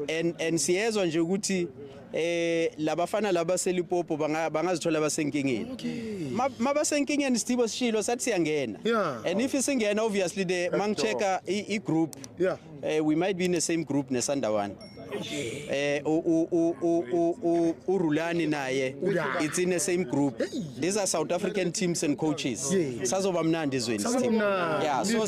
and and siyezwa nje ukuthi eh labafana laba selipopo bangazithola basenkingeni mabasenkingeni Sthibo sishilo sathi siyangena and if isingena obviously the mangicheka i group yeah eh, we might be in the same group ne Sandawana eh u u u u urulani naye it's in the same group these are south african teams and coaches sazoba mnandi izweni yeah so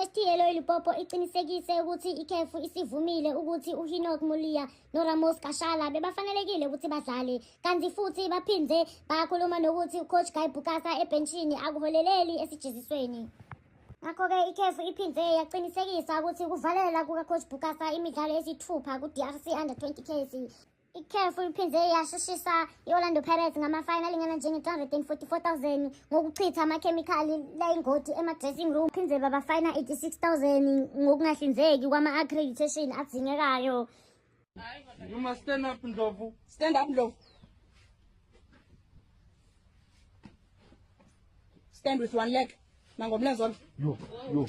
Esithiyelo iLipopo iqinisekise ukuthi ikhefu isivumile ukuthi uHinok Mulia noRamos Kashala bebafanelekile ukuthi badlale kanti futhi baphinde bakhuluma nokuthi ucoach Guy Bukasa ebhenshini akuholeleli esijezisweni ngakho-ke ikhefu iphinde yaqinisekisa ukuthi ukuvalela kukacoach Bukasa imidlalo esithupha ku-drc under 20 case ikhefu liphinde yashushisa i-orlando pirates ngamafayini alingana njenge-244,000 ngokuchitha amakhemikhali layingoti ema-dressing room phinde babafayina 86,000 ngokungahlinzeki kwama-accreditation adingekayo You must stand up, Ndlovu. Stand up, Ndlovu. Stand with one leg. Nangomlenze wami. Yo, yo.